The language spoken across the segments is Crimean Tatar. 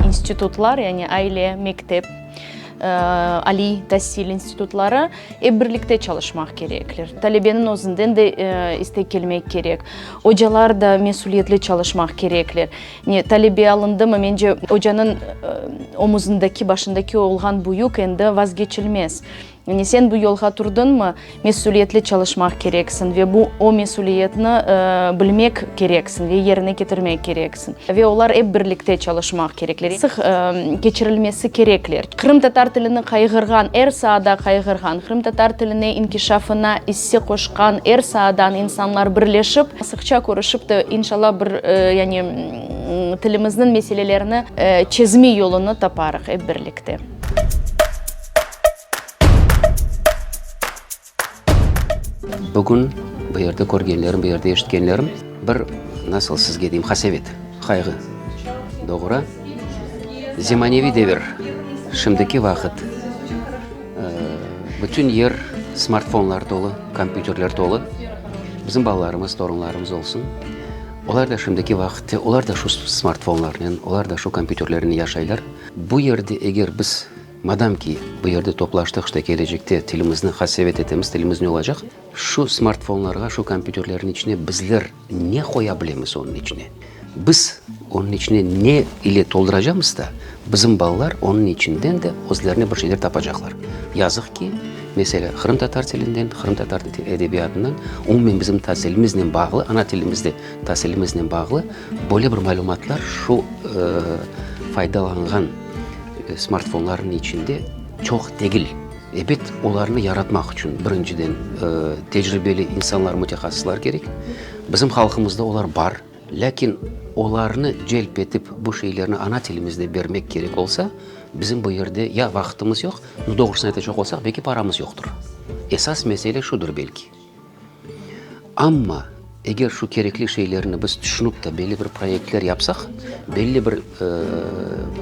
İnstitutlar, yani aile, mektep, aliy tasil institutları ep birlikte çalışmaq kerekler. Talebeniñ özünden de istek kelmek kerek. Ocalar da mesüliyetli çalışmaq kerekler. Ne, talebe alındımı? Mence, ocanıñ omuzındaki, başındaki olğan bu yük endi vazgeçilmez. Ne, sen bu yolğa turdıñmı? Mesüliyetli çalışmaq kereksiñ ve bu, o mesüliyetni bilmek kereksiñ ve yerine ketirmek kereksiñ. Ve olar ep birlikte çalışmaq kerekler, sıq keçirilmesi kerekler. Qırımtatar tilini qayğırğan, er saada qayğırğan, qırımtatar tiline inkişafına. Size qoşqan er saadan insanlar birleşip, sıqça körüşip de, inşallah, bir, yani, tilimizniñ meselelerini çezme yolunı taparıq ep birlikte. Bugün bu yerde körgenlerim, bu yerde eşitkenlerim bir, nasıl sizge deyim, hasevet, qayğı doğura. Zemaneviy devir, şimdiki vaqıt. Bütün yer smartfonlar tolu, kompyuterler tolu. Bizim balalarımız, torunlarımız olsun, olar da şimdiki vaqıtta, olar da şu smartfonlarnen, olar da şu kompyuterlernen yaşaylar. Bu yerde eger biz, madam ki, bu yerde toplaştıq, işte, kelecekte tilimizni hasevet etemiz, tilimiz ne olacaq? Şu smartfonlarğa, şu kompyuterlerniñ içine bizler, Ne qoya bilemiz onıñ içine? Biz onıñ içine ne ile tolduracamız da, bizim balalar onıñ içinden de özlerine bir şeyler tapacaqlar. Yazıq ki, meselâ, qırımtatar tilinden, qırımtatar edebiyatından, umumen bizim tasilimiznen bağlı, ana tilimizde tasilimiznen bağlı böyle bir malümatlar şu faydalanğan smartfonlarnıñ içinde çoq degil. Ebet, olarnı yaratmaq içün, birinciden, tecribeli insanlar, mütehassıslar kerek. Bizim halqımızda olar bar, lâkin olarnı celp etip, bu şeylerni ana tilimizde bermek kerek olsa, bizim bu yerde ya vaqıtımız yoq, doğrusını aytacaq olsaq, belki paramız yoqtur. Esas mesele şudur belki. Amma, eger şu kerekli şeylerni biz tüşünip de belli bir proyektler yapsaq, belli bir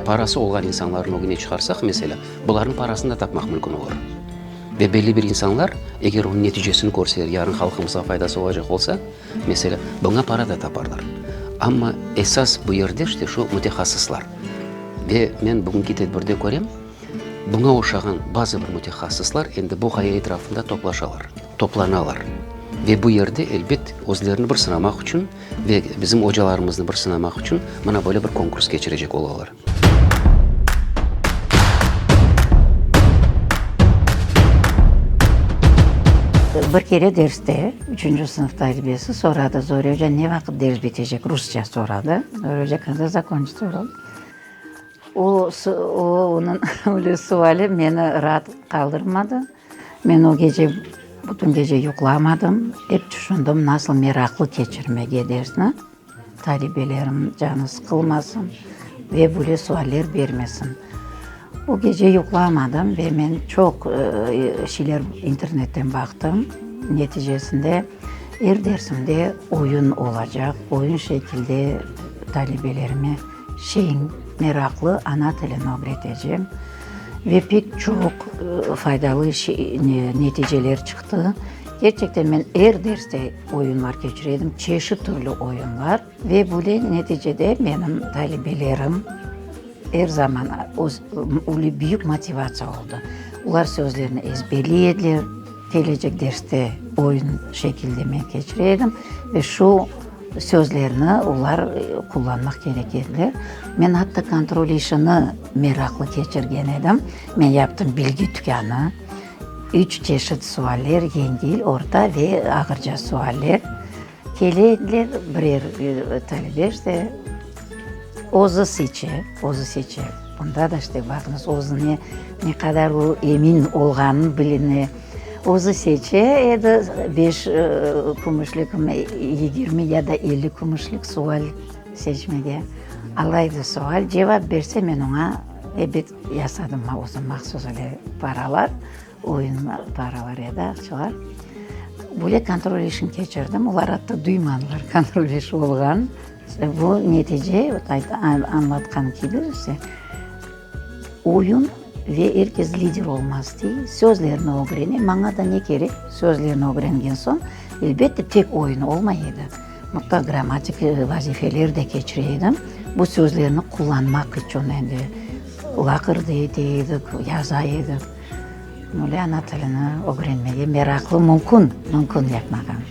parası olğan insanlarnı ögüne çıqarsaq, meselâ, bularnıñ parasını da tapmaq mümkün olur. Ve belli bir insanlar, eger onıñ neticesini körseler, yarın halqımızğa faydası olacaq olsa, meselâ, buña para da taparlar. Amma esas bu yerde, işte, şu mütehassıslar. Ve men bugünki tedbirde körem, Buña oşağan bazı bir mütehassıslar endi bu ğaya etrafında toplaşalar, toplanalar. Ve bu yerde, elbet, özlerini bir sınamaq içün ve bizim ocalarımıznı bir sınamaq içün mına böyle bir konkurs keçirecek olalar. Bir kere derste, üçünci sınıf talibesi soradı, Zorya oca, ne vaqıt ders bitecek? Rusça soradı. Zorya oca, Kanda zakonçitsa? O, o, onıñ öyle suali meni raat qaldırmadı. Men o gece bütün gece yuqlamadım. Ep tüşündim, nasıl meraqlı keçirmege dersni, talibelerim canı sıqılmasın ve böyle sualler bermesin. O gece yuqlamadım ve men çoq şeyler internetten baqtım. Neticesinde, er dersimde oyun olacaq, oyun şekilde talibelerime. Çeñ, meraqlı ana tilini ögretecem ve pek çoq faydalı neticeler çıqtı. Kerçekten men er derste oyunlar keçire edim, çeşit türlü oyunlar ve böyle neticede menim talibelerim er zaman böyle büyük motivatsiya oldı. Olar sözlerini ezberley ediler, kelecek derste oyun şekilde men keçire edim ve şu sözlerni olar qullanmaq kerek ediler. Men atta kontrol işini meraqlı keçirgen edim. Men yaptım bilgi tükânı, üç çeşit sualler, yengil, orta ve ağırca sualler. Kele ediler, birer talebe işte özü seçe, özü seçe. Bunda da işte baqıñız, özüne ne qadar o emin olğanı biline. Özü seçe edi, beş kümüşlikmi, yigirmi ya da elli kümüşlik sual seçmege. Ala edi sual, cevap berse, men oña ebet yasadım özüm mahsus öyle paralar, oyun paralar ya da aqçalar. Böyle kontrol işini keçirdim, olar atta duymadılar kontrol iş olğanını. Bu netice, añlatqan kibi, işte. Oyun ve er kes lider olmaz dey, sözlerni ögrene, maña da ne kerek, sözlerni ögrengen soñ, elbette, tek oyun olmay edi, mutlaq grammatik vazifeler de keçire edim, bu sözlerni qullanmaq içün endi, laqırdı ete edik, yaza edik, böyle ana tilini ögrenmege meraqlı mümkün, mümkün yapmağan.